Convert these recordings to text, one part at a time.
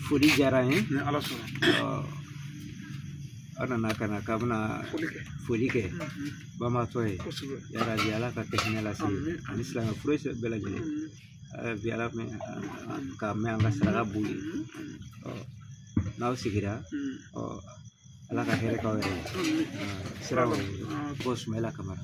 foli diyara an ye ni ala sɔnna aw nana ka na k'aw bɛna foli kɛ banbatɔ ye yarabi ala ka kɛ hinɛ lase ani silamɛ fure bɛɛ lajɛlen bi ala ka mɛn an ka saraka b'u ye n'aw sigira ala ka hɛrɛ k'aw yɛrɛ ye sira ko sumayila kamara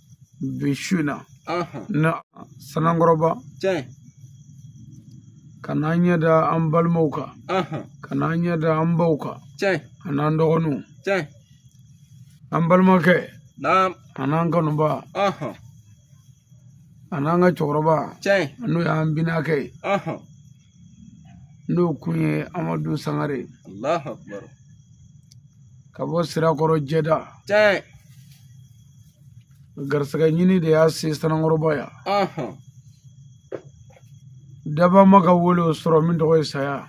bi su an nana sanankɔrɔba ka n'an ɲɛ da an balimaw kan ka n'an ɲɛ da an baw kan an'an dɔgɔninw an balimakɛ an'an kanubaa an'an ka cɛkɔrɔba n'o y'an binakɛ ye n'o kun ye amadu sangare ka bɔ sirakɔrɔ jɛda garisɛgɛ ɲini de y'a se sanankɔrɔba yan dabaa ma ka wele o sɔrɔ min tɔgɔ ye saya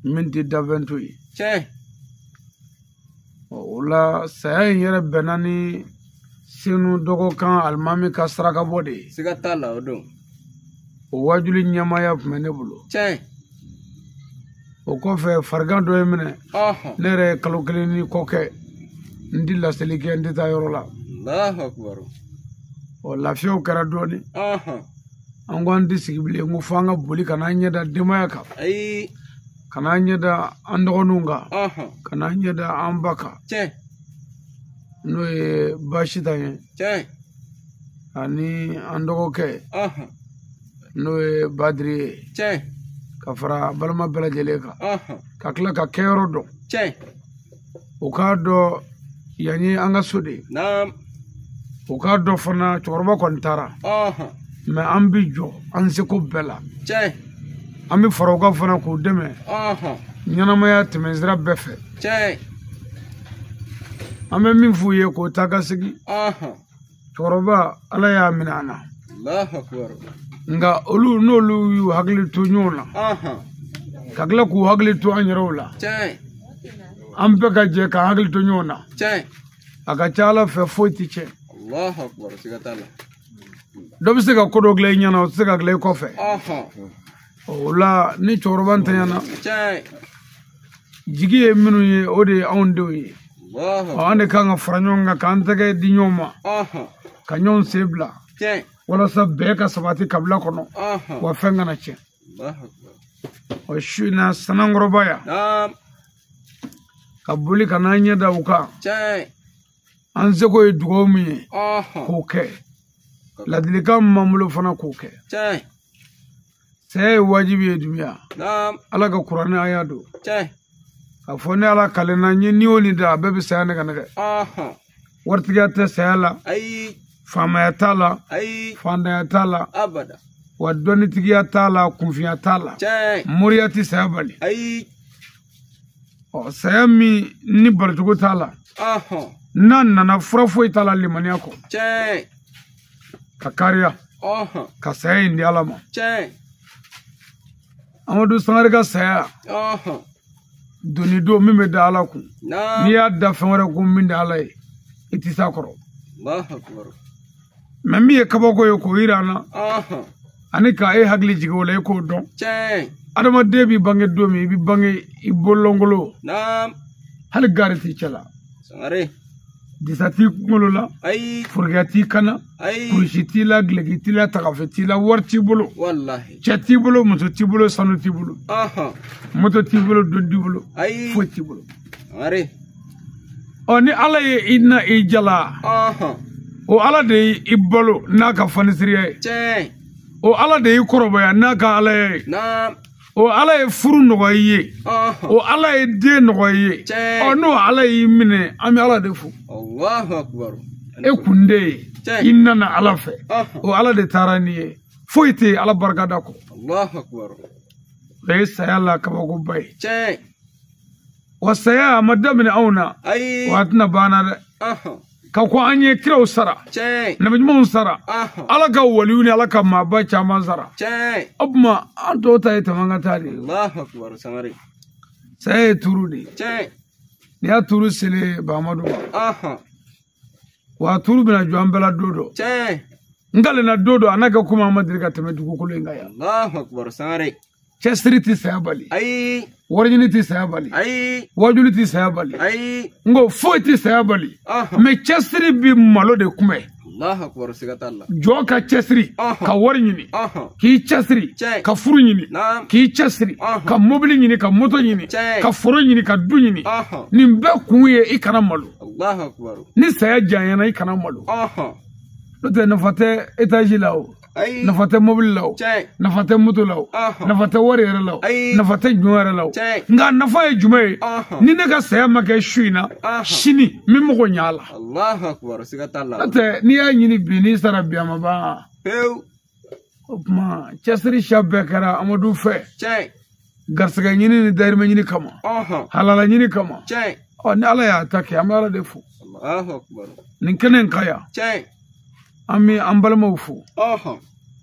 min tɛ danfɛn to yen o la saya in yɛrɛ bɛnna ni senu dɔgɔkan alimami ka sarakabɔ de ye siga t'a la o don o wajuli ɲɛmaaya tun bɛ ne bolo tiɲɛ o kɔfɛ farigan dɔ ye n minɛ ne yɛrɛ ye kalo kelen ni kɔ kɛ n tɛ laseli kɛ n tɛ taa yɔrɔ la ɔ lafiyaw kɛra dɔɔnin an ko an tɛ sigi bilen ko fo an ka boli ka n'an ɲɛ da denbaya kan ka n'an ɲɛ da an dɔgɔninw kan ka n'an ɲɛ da an ba kan n'o ye basita ye ani an dɔgɔkɛ n'o ye badiri ye ka fara balima bɛɛ lajɛlen kan ka tila ka kɛyɔrɔ dɔn u k'a dɔn yan ye an ka so de ye u k'a dɔn fana cɛkɔrɔba kɔni taara mɛ an bɛ jɔ an seko bɛɛ la an bɛ fara u kan fana k'u dɛmɛ ɲɛnamaya tɛmɛsira bɛɛ fɛ an bɛ min f'u ye k'o ta ka segin cɛkɔrɔba ala y'a minɛ an na nka olu n'olu y'u hakili to ɲɔgɔn na ka tila k'u hakili to an yɛrɛw la an bɛɛ ka jɛ k'an hakili to ɲɔgɔn na a ka ca a la fɛn foyi tɛ tiɲɛ dɔ bɛ se ka ko dɔ dilan i ɲɛna o tɛ se ka dilan i kɔfɛ o la ni cɛkɔrɔba ntanyana jigi ye minnu ye o de ye anw denw ye an de kan ka fara ɲɔgɔn kan k'an tɛgɛ di ɲɔgɔn ma ka ɲɔgɔn sen bila walasa bɛɛ ka sabati kabila kɔnɔ wa fɛn kana tiɲɛ o su in na sanankɔrɔba yan ka boli ka n'an ɲɛ da u kan an seko ye dugawu min ye k'o kɛ ladilikan min b'an bolo fana k'o kɛ saya ye wajibi ye duniya ala ka kuranɛ an y'a don k'a fɔ ne ala kalenna n ye ni o ni da a bɛɛ bɛ saya nɛgɛ nɛgɛ waritigiya tɛ saya la faamaya t'a la faantanya t'a la wa dɔnnitigiya t'a la kunfiya t'a la moriya tɛ saya bali ɔ saya min ni balicogo t'a la n'a nana fura foyi t'a la limaniya kɔ ka kariya ka saya in di ala ma amadu sangare ka saya doni don min bɛ da ala kun n'i y'a da fɛn wɛrɛ kun min tɛ ala ye i tɛ s'a kɔrɔ mɛ min ye kabako ye k'o jira an na ani ka e hakili jigin o la e k'o dɔn adamaden b'i bange don min i bɛ bange i bololankolon hali gaari t'i cɛ la disa t'i kunkolo la ayi forokiya t'i kan na ayi kurusi t'i la gileki t'i la tagafe t'i la wari t'i bolo walahi cɛ t'i bolo muso t'i bolo sanu t'i bolo aha moto t'i bolo du t'i bolo ayi foyi t'i bolo sangare ɔ ni ala ye i na i jalan aha o ala de ye i balo n'a ka fanisiriya ye tiɲɛ o ala de y'i kɔrɔbaya n'a ka ala ye na o ala ye furu nɔgɔya i ye Ɔhɔ. o ala ye den nɔgɔya i ye Tiɲɛ. ɔ n'o ala y'i minɛ an bɛ ala de fo Allahu akbar. e kun de ye Tiɲɛ. i nana ala fɛ Ɔhɔ. o ala de taara n'i ye foyi tɛ yen ala barikada kɔ Allahu akbar. o ye saya la kabakoba ye Tiɲɛ. wa saya a ma daminɛ anw na Ayi. wa a tɛna ban an na dɛ Ɔhɔ. ka kɔn an ɲɛ kiraw sara nabi ɲumanw sara ala ka waliw ni ala ka maaba caman sara o tuma an tɔw ta ye tɛmɛ ka taa de ye saya ye turu de ye n'i y'a turu sele baamadu ma wa turu bɛna jɔ an bɛɛ la don dɔ n kalenna don dɔ a n'a kɛ komi an ma deli ka tɛmɛ dugukolo in kan yan cɛsiri tɛ saya bali ayi wariɲini tɛ saya bali ayi wajuli tɛ saya bali ayi n ko foyi tɛ saya bali mɛ cɛsiri bɛ malo de kunbɛn jɔn ka cɛsiri ka wari ɲini k'i cɛsiri ka furu ɲini k'i cɛsiri ka mobili ɲini ka moto ɲini ka foro ɲini ka du ɲini nin bɛɛ kun ye i kana malo ni saya janyana i kana malo n'o tɛ nafa tɛ etazi la o Ayi. nafa tɛ mobili la o Tiɲɛ. nafa tɛ moto la o Ɔhɔn. nafa tɛ wari yɛrɛ la o Ayi. nafa tɛ jɔn yɛrɛ la o Tiɲɛ. nka a nafa ye jumɛn ye Ɔhɔn. ni ne ka saya ma kɛ su in na Ɔhɔn. sini n bɛ mago ɲɛ a la Allahu akbar siga t'a la. n'o tɛ n'i y'a ɲini bi n'i sara bi a ma ban Pewu. o tuma cɛsiri siya bɛɛ kɛra amadu fɛ Tiɲɛ. garisɛgɛ ɲini ni dayirimɛ ɲini kama halala ɲini kama ɔ ni ala y'a ta kɛ an bɛ ala de fo nin kɛnɛ in ka yan an bɛ an balimaw fo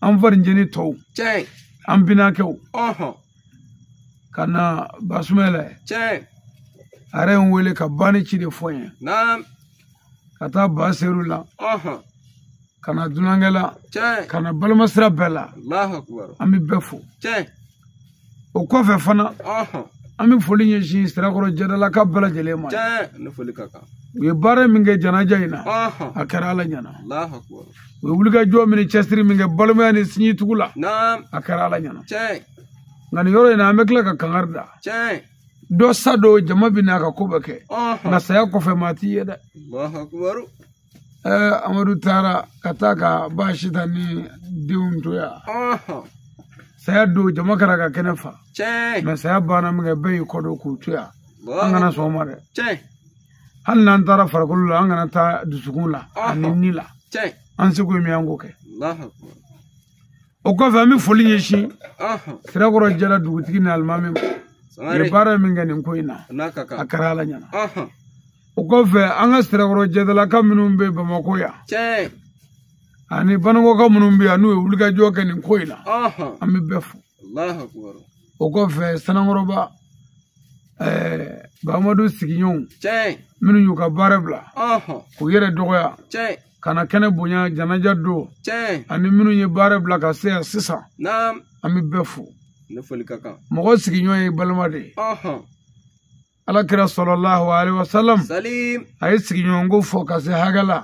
an farinjeni tɔw an binakɛw ka na basumɛla a yɛrɛ ye n wele ka ba ni ci de fɔ n ye ka taa ba seru la ka na dunankɛ la ka na balima sira bɛɛ la an bɛ bɛɛ fo o kɔfɛ fana an bɛ foli ɲɛsin sirakɔrɔ jɛdalaka bɛɛ lajɛlen ma u ye baara min kɛ janaja in na a kɛra ala ɲɛna u ye wulikajɔ min ni cɛsiri min kɛ balimaya ni sinjitugu la a kɛra ala ɲɛna nka nin yɔrɔ in na an bɛ tila ka kangari da dɔ sa don jama bɛ na a ka ko bɛ kɛ nka saya kɔfɛ maa t'i ye dɛ amadu taara ka taa ka ba sita ni denw to yan saya don jama kɛra ka kɛnɛ fa mɛ saya banna min kɛ bɛɛ y'i kɔ don k'u to yan an kana sɔn o ma dɛ hali n'an taara farikolo la an kana taa dusukun la ani ni la an seko ye min an k'o kɛ o kɔfɛ an bɛ foli ɲɛsin sirakɔrɔ jɛda dugutigi ni alimami ma u ye baara min kɛ nin ko in na a kɛra ala ɲɛna o kɔfɛ an ka sirakɔrɔ jɛdalaka minnu bɛ bamakɔ yan ani banakɔka minnu bɛ yan n'u ye wulikajɔ kɛ nin ko in na an bɛ bɛɛ fo o kɔfɛ sanankɔrɔba bamadu sigiɲɔgɔnw minnu y'u ka baara bila k'u yɛrɛ dɔgɔya ka na kɛnɛ bonya janaja don ani minnu ye baara bila ka se yan sisan an bɛ bɛɛ fo mɔgɔ sigiɲɔgɔn ye balima de ye ala kira sɔlɔlahu alaihi wasalam a ye sigiɲɔgɔnko fɔ ka se hakɛ la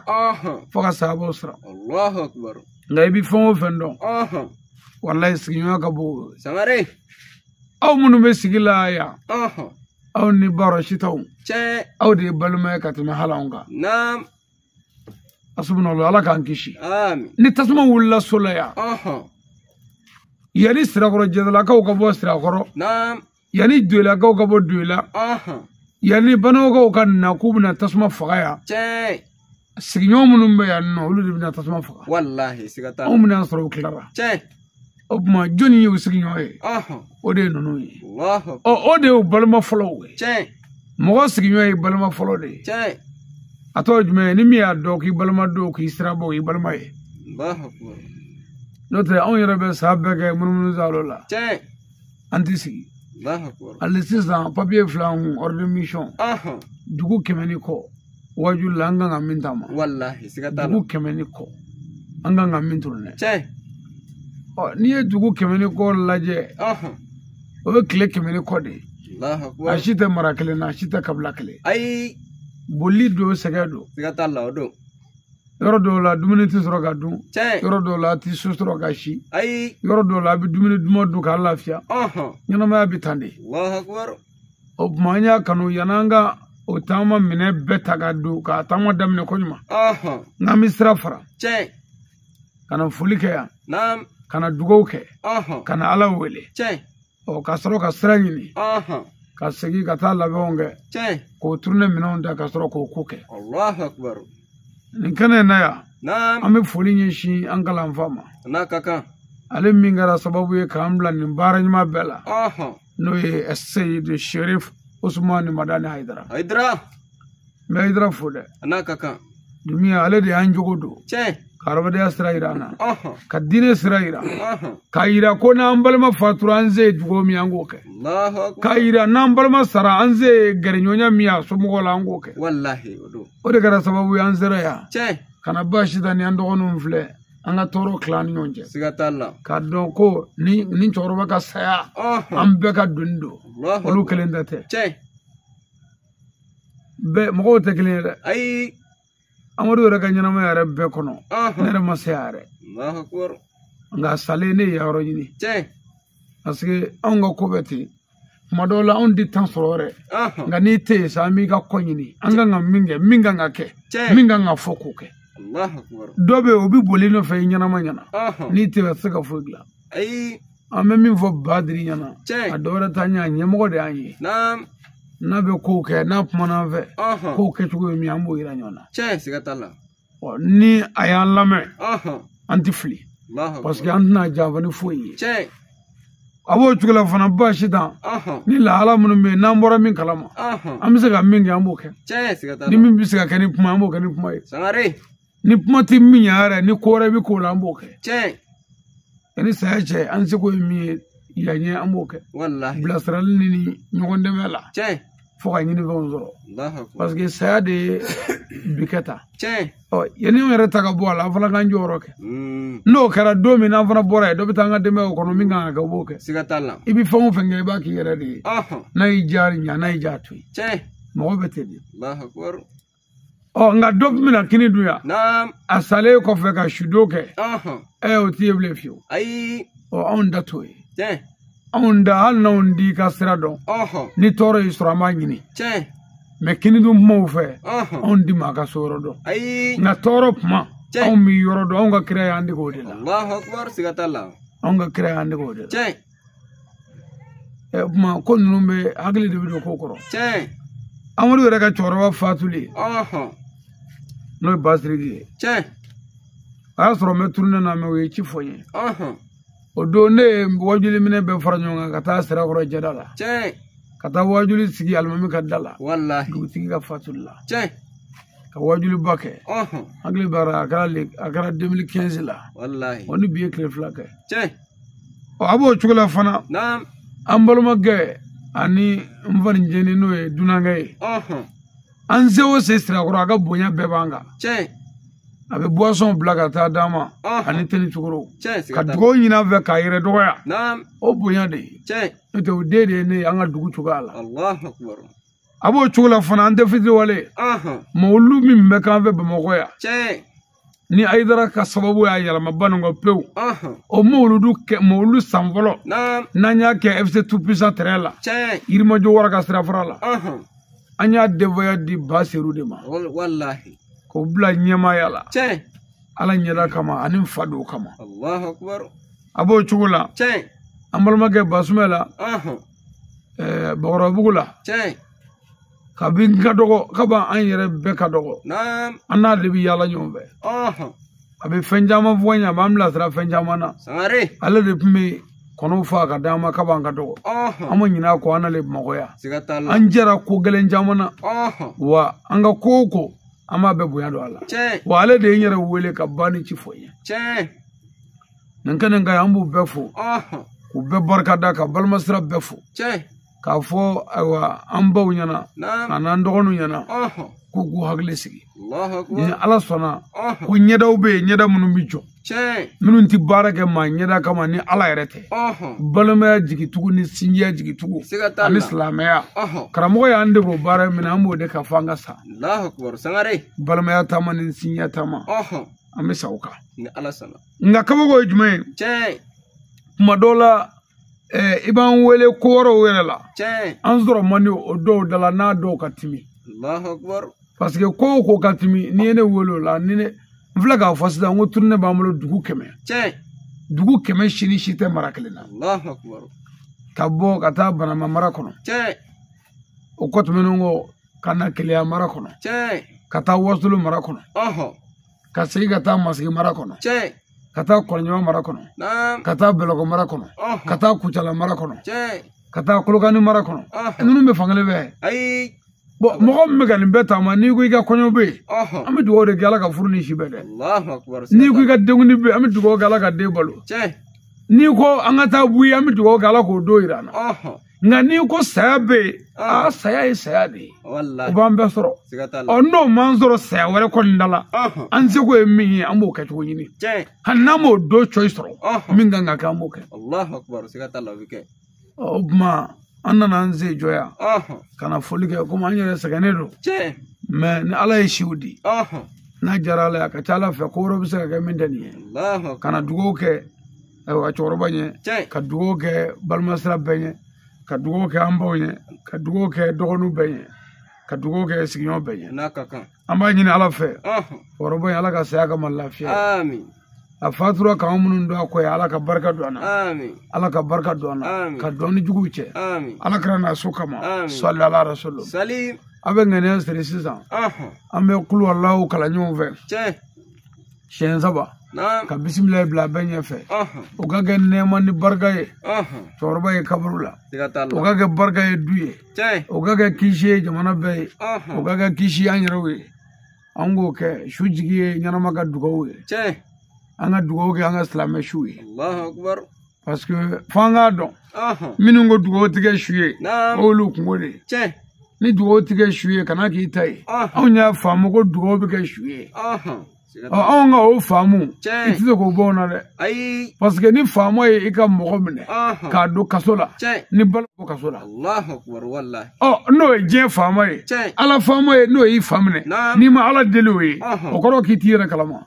fo ka sahabaw siran nka i bɛ fɛn o fɛn dɔn walayi sigiɲɔgɔn ka bon aw minnu bɛ sigi la yan aw ni ba sitaw aw de ye balima ye ka tɛmɛ hali anw kan asubunala ala k'an kisi ni tasuma wulila so la yan yanni sirakɔrɔ jɛdalakaw ka bɔ sirakɔrɔ yanni doyilakaw ka bɔ doyila yanni banakɔkaw ka na k'u bɛna tasuma faga yan sigiɲɔgɔn minnu bɛ yan nɔ olu de bɛna tasuma faga anw bɛna sɔrɔ u tilara o tuma jɔni y'u sigiɲɔgɔn ye o de ye ninnu ye ɔ o de y'u balima fɔlɔw ye mɔgɔ sigiɲɔgɔn ye balima fɔlɔ de ye a tɔgɔ jumɛn ni min y'a dɔn k'i balima don k'i sirabɔ o y'i balima ye n'o tɛ anw yɛrɛ bɛ san bɛɛ kɛ munumunu zalo la an tɛ sigi hali sisan papiye fil'an kun ordre mission dugu kɛmɛ ni kɔ waju la an kan ka min taama dugu kɛmɛ ni kɔ an kan ka min turune n'i ye dugu kɛmɛ ni kɔ lajɛ o bɛ tile kɛmɛ ni kɔ de ye a si tɛ mara kelen na a si tɛ kabila kelen ayi bolili don sɛgɛn don siga t'a la o don yɔrɔ dɔw la dumuni tɛ sɔrɔ ka dun yɔrɔ dɔw la a tɛ so sɔrɔ ka si ayi yɔrɔ dɔw la a bɛ dumuni duman dun k'a lafiya ɲɛnamaya bɛ tan de o tuma an y'a kanu yann'an ka o taama minɛn bɛɛ ta ka don k'a taama daminɛ koɲuman n'an bɛ sira fara ka na foli kɛ yan ka na dugawu kɛ ka na ala wele ɔ ka sɔrɔ ka sira ɲini ka segin ka taa labɛnw kɛ k'o turune minɛnw ta ka sɔrɔ k'o ko kɛ nin kɛnɛ in na yan an bɛ foli ɲɛsin an kalanfa ma ale min kɛra sababu ye k'an bila nin baara ɲuman bɛɛ la n'o ye seyidu sherif usumani madani hayidara n bɛ hayidara fo dɛ a n'a ka kan duniya ale de y'an jogo don tiɲɛ ka hadamadenya sira yira an na ka diinɛ sira yira k'a yira ko n'an balima fatura an se ye dugawu min an k'o kɛ k'a yira n'an balima sara an se ye gɛrɛɲɔgɔnya min a somɔgɔw la an k'o kɛ o de kɛra sababu ye an sera yan ka na ba sitan ni an dɔgɔninw filɛ an ka tɔɔrɔ tila an ni ɲɔgɔn cɛ siga t'a la k'a dɔn ko nin cɛkɔrɔba ka saya an bɛɛ ka doni don olu kelen ta tɛ bɛɛ mɔgɔw tɛ kelen ye dɛ ayi amadu yɛrɛ ka ɲɛnamaya yɛrɛ bɛɛ kɔnɔ ne yɛrɛ ma se a yɛrɛ nka salen ne ye yɔrɔ ɲini parce que anw ka ko bɛ ten tuma dɔw la anw tɛ temps sɔrɔ yɛrɛ nka n'i tɛ yen sa an b'i ka kɔ ɲini an kan ka min kɛ min kan ka kɛ min kan ka fɔ k'o kɛ dɔ bɛ yen o bɛ bol'i nɔfɛ i ɲɛnama ɲɛ na n'i tɛ se ka foyi dilan an bɛ min fɔ badiri ɲɛ na a dɔ wɛrɛ t'an ɲɛ ɲɛmɔgɔ de y'an ye n'a bɛ kow kɛ n'a kumana an fɛ kow kɛcogo ye min an b'o yira ɲɔgɔn na ni a y'an lamɛn an tɛ fili parce que an tɛna janfa ni foyi ye a b'o cogo la fana ba sitan ni lahala minnu bɛ yen n'an bɔra min kalama an bɛ se ka min kɛ an b'o kɛ ni min bɛ se ka kɛ ni kuma an b'o kɛ ni kuma ye ni kuma tɛ min ɲɛ yɛrɛ ni ko wɛrɛ bɛ k'o la an b'o kɛ tiɲɛ yanni saya cɛ an seko ye min ye yanɲɛ an b'o kɛ walahi bilasirali ni ɲɔgɔn dɛmɛ la tiɲɛ fo ka ɲini fɛnw sɔrɔ parce que saya de ye bi kɛ tan tiɲɛ ɔ yanni n yɛrɛ ta ka bɔ a la an fana k'an jɔyɔrɔ kɛ mm. n'o kɛra don min n'an fana bɔra yen dɔ bɛ taa an ka denbayaw kɔnɔ min kan ka kɛ o b'o kɛ siga t'a la i bɛ fɛn o fɛn kɛ i b'a k'i yɛrɛ de ye n'a y'i diya ɲa n'a y'i diya to yen tiɲɛ mɔgɔ bɛ ten de ɔ nka dɔ bɛ na kini dun yan a salen kɔfɛ ka sudon kɛ ɛ o t'i ye bilen fiyewu ɔ anw da t'o ye anw da hali n'anw t'i ka sira dɔn ni tɔɔrɔ y'i sɔrɔ an b'a ɲini mɛ kini dun kumaw fɛ anw tɛ maa ka so yɔrɔ dɔn nka tɔɔrɔ kuma anw b'i yɔrɔ dɔn anw ka kira y'an dege o de la anw ka kira y'an dege o de la ɛ kuma ko ninnu bɛɛ hakili de bɛ don ko kɔrɔ tiɲɛ amadu yɛrɛ ka cɛkɔrɔba fatuli n'o ye basiriki ye tiɲɛ a y'a sɔrɔ n bɛ turunɛ na mɛ o ye ci fɔ n ye o don ne ye wajuli minɛ bɛɛ fara ɲɔgɔn kan ka taa sirakɔrɔ jɛda la tiɲɛ ka taa wajuli sigi alimami ka da la walahi dugutigi ka fatuli la tiɲɛ ka wajuliba kɛ hakili b'a la a kɛra a kɛra 2015 la walahi o ni bi ye tile fila kɛ tiɲɛ ɔ a b'o cogo la fana an balimakɛ ani n faninjeni n'o ye dunankɛ ye an se o se sirakɔrɔ a ka bonya bɛɛ b'an kan a bɛ buwasɔn bila ka taa d'a ma ani teni cogoro ka dugawu ɲini an fɛ k'a yɛrɛ dɔgɔya o bonya de ye n'o tɛ o den de ye ne ye an ka dugu cogoya la a b'o cogo la fana an tɛ fitiriwale mawulu min bɛ k'an fɛ bamakɔ yan ni ayidara ka sababu y'a yɛlɛma banikɔ pewu o mawuludu kɛ mawuludu san fɔlɔ n'an y'a kɛ fc tout puissant terrain la yirimajɔ wara ka sirafara la an y'a denfaya di ba seru de ma k'o bila ɲɛmaaya la ala ɲɛda kama ani n fa don kama a b'o cogo la an balimakɛ basumɛla bakɔrɔbugu la kabi n ka dɔgɔ kab'an yɛrɛ bɛɛ ka dɔgɔ an n'a de bɛ yaala ɲɔgɔn fɛ a bɛ fɛn caman fɔ n ye a b'an bilasira fɛn caman na ale de tun bɛ kɔnɔw faa ka d'an ma kab'an ka dɔgɔ an ma ɲin'a kɔ an n'ale bamakɔ yan an jɛra ko gɛlɛn caman na wa an ka ko o ko an b'a bɛɛ bonya don a la wa ale de ye n yɛrɛ wele ka banni ci fɔ n ye nin kɛnɛ kan an b'u bɛɛ fo k'u bɛɛ barika da ka balimasira bɛɛ fo k'a fɔ ayiwa an baw ɲɛna an'an dɔgɔninw ɲɛna k'u k'u hakili sigi ni ala sɔnna ko ɲɛdaw bɛ yen ɲɛda minnu bɛ jɔ minnu tɛ baara kɛ maa ɲɛda kama ni ala yɛrɛ tɛ balimaya jigitugu ni sinjiya jigitugu ani silamɛya karamɔgɔ y'an dege o baara min na an b'o de kan fo an ka sa balimaya taama ni sinjiya taama an bɛ sa o kan nka kabako ye jumɛn ye kuma dɔw la i b'an wele ko wɛrɛw yɛrɛ la an sɔrɔ man di o dɔw da la n'a dɔw ka timi parce que ko o ko ka timi n'i ye ne wele o la ni ne n filɛ k'a fɔ sisan n ko turune b'an bolo dugu kɛmɛ dugu kɛmɛ si ni si tɛ mara kelen na ka bɔ ka taa banama mara kɔnɔ o kɔ tɛmɛnen kɔ ka na keleya mara kɔnɔ ka taa wasolo mara kɔnɔ ka segin ka taa masigi mara kɔnɔ ka taa kɔlɔnjɛba mara kɔnɔ ka taa bɛlɛkɔ mara kɔnɔ ka taa kucala mara kɔnɔ ka taa kolokani mara kɔnɔ ninnu bɛ fankelen bɛɛ bon mɔgɔ min bɛ ka nin bɛɛ taama n'i ko i ka kɔɲɔ bɛ yen an bɛ dugawu de kɛ ala ka furu ni si bɛn dɛ n'i ko i ka denkuni bɛ yen an bɛ dugawu kɛ ala ka den balo n'i ko an ka taa buyi an bɛ dugawu kɛ ala k'o don jira an na nka n'i ko saya bɛ yen aa saya ye saya de ye o b'an bɛɛ sɔrɔ ɔ n'o m'an sɔrɔ saya wɛrɛ kɔni da la an seko ye min ye an b'o kɛ cogo ɲini hali n'an m'o don cɔyi sɔrɔ min kan ka kɛ an b'o kɛ o tuma an nana an sen jɔ yan ka na foli kɛ komi an yɛrɛ sɛgɛnnen don mais ni ala ye siw di n'a diyara ala ye a ka ca ala fɛ ko wɛrɛ bɛ se ka kɛ min tɛ nin ye ka na dugawu kɛ ayiwa cɛkɔrɔba ɲɛ ka dugawu kɛ balimasira bɛɛ ɲɛ ka dugawu kɛ an baw ɲɛ ka dugawu kɛ dɔgɔninw bɛɛ ɲɛ ka dugawu kɛ sigiɲɔgɔn bɛɛ ɲɛ n'a ka kan an b'a ɲini ala fɛ cɛkɔrɔba in ala ka saya k'a ma lafiya a fatura k'an minnu to a kɔ ye ala ka barika don an na ala ka barika don an na ka don an ni juguw cɛ ala kira n'a so kama sali ala rasulu a bɛ ŋaniya siri sisan an bɛ kuluwalahu kalan ɲɔgɔn fɛ siɲɛ saba ka bisimila bila bɛɛ ɲɛfɛ o ka kɛ nɛɛma ni barika ye cɛkɔrɔba ye kaburu la o ka kɛ barika ye du ye o ka kɛ kisi ye jamana bɛɛ ye o ka kɛ kisi an yɛrɛw ye an ko ko su jigi ye ɲɛnama ka dugawu ye an ka dugawu kɛ an ka silamɛ su ye parce que fo an k'a dɔn minnu ko dugawu tɛ kɛ su ye olu kunko de ye ni dugawu tɛ kɛ su ye kana k'i ta ye anw y'a faamu ko dugawu bɛ kɛ su ye anw ka o faamu i tɛ se k'o bɔ o na dɛ parce que ni faama ye i ka mɔgɔ minɛ k'a don kaso la ni balo bɔ kaso la ɔ n'o ye diɲɛ faama ye ala faama ye n'o y'i fa minɛ n'i ma ala deli o ye o kɔrɔ k'i t'i yɛrɛ kalama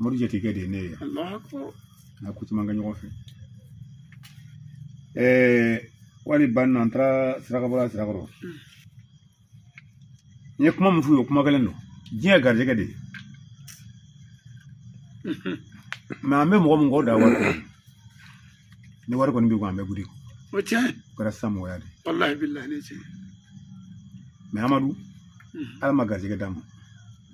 mori jatigikɛ de ye ne ye n'a ko caman kɛ ɲɔgɔn fɛ hali a banna an taara sarakabɔ la sirakɔrɔ n ye kuma min f'u ye o kuma kelen don diɲɛ garijɛgɛ de ye mɛ an bɛ mɔgɔ min kɔ da wari kɔnɔ ni wari kɔni b'i kun an bɛ wuli o tiɲɛ o kɛra sisan mɔgɔya de walahi bilahi ne tiɲɛ mɛ amadu ala ma garijɛgɛ d'a ma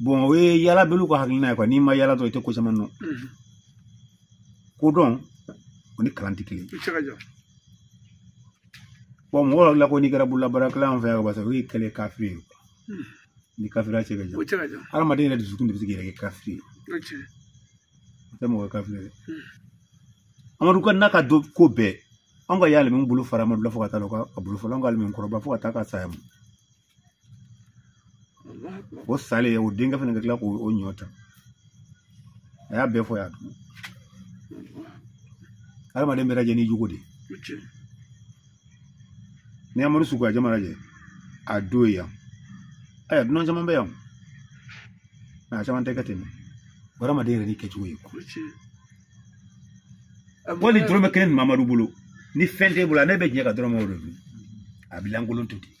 bɔn o ye yalabaliw ka hakilina ye ko n'i ma yala dɔrɔn i tɛ ko caman dɔn kodɔn o ni kalan tɛ kelen bɔn mɔgɔ dɔ la ko n'i kɛra bololabaarakɛla an fɛ yan barisa o y'i kɛlen kafiri ye ni kafiriya cɛ ka jan hadamaden yɛrɛ dusukun de bɛ se k'i yɛrɛ kɛ kafiri ye o tɛ mɔgɔ kafiri ye amadu ka n'a ka do ko bɛɛ an ka alimami bolo fara amadu la fo ka taa ka bolo fɔlɔ an ka alimami kɔrɔba fo ka taa a ka saya ma o salen o denkɛ fana ka tila k'o o ɲɔ ta a y'a bɛɛ fɔ y'a dɔn adamaden bɛɛ lajɛ n'i jogo de ye n'i y'amadu suko jama lajɛ a don ye yan ayiwa dunan caman bɛ yan nka a caman tɛ kɛ ten o hadamaden yɛrɛ n'i kɛcogo ye hali dɔrɔmɛ kelen b'amadu bolo ni fɛn t'e bolo ne bɛ jɛ ka dɔrɔmɛ o de dun a bɛ lankolon to ten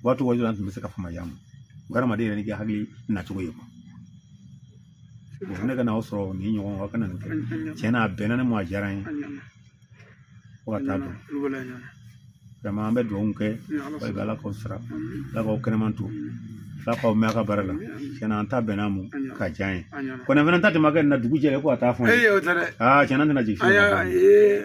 u b'a to waati an tun bɛ se ka fama y'a ma o hadamaden yɛrɛ n'i ka hakilina cogo ye ne ka n'aw sɔrɔ nin ɲɔgɔn ka na nin kɛ tiɲɛ na a bɛnna ne ma a diyara n ye fo ka taa dɔn vraiment an bɛ dugawu kɛ i bɛ ala k'aw sara ala k'aw kɛnɛman to ala k'aw mɛɛn aw ka baara la tiɲɛ na an ta bɛnna n ma ka diya n ye kɔni fana ta tɛmɛ kɛ nin na dugu jɛ ko a t'a fɔ n ye tiɲɛ na tɛna jigin